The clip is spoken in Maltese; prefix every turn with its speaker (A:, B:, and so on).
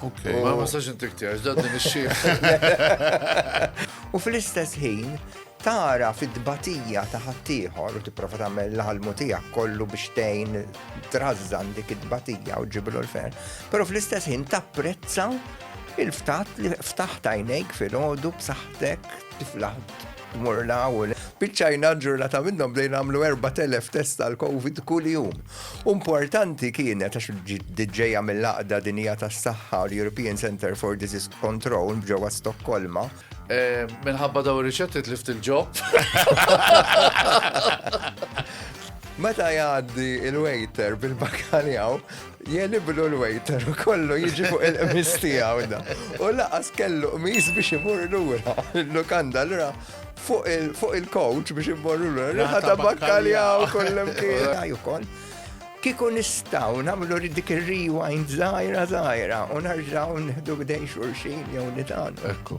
A: Ok, oh. ma ma sax
B: intik tiegħek, dan din ix
A: U fl-istess ħin tara fit-tbatija ta' ħaddieħor u tipprova tagħmel l-ħalmu tiegħek kollu biex tgħin trażżan dik it-tbatija u ġiblu l-fer. Però fl-istess ħin tapprezza il-ftat li ftaħt għajnejk fil-ħodu b'saħħtek tifla tmur la u le. Biċċajna ġurnata minnhom bdejna nagħmlu 4000 test tal-COVID kuljum. Importanti kienet għax ġejja mill-Għaqda Dinija tas-Saħħa, l-European Centre for Disease Control ġewwa Stokkolma. Eh, minħabba
B: daw ir-riċetti tlift il-ġob.
A: Meta jgħaddi il-waiter bil-bakaljaw, Jeniblu l-waiter u kollu jiġi fuq il-qmis tiegħu da. U laqas kellu qmis biex imur lura l-lukanda l-ra fuq il-coach biex imur lura. Riħa ta' bakkalja u kollem kien. Kiku nistaw namlu dik il-rewind zaħira zaħira u narġaw nħdu b'dejn xurxin jew nitan. Ekku.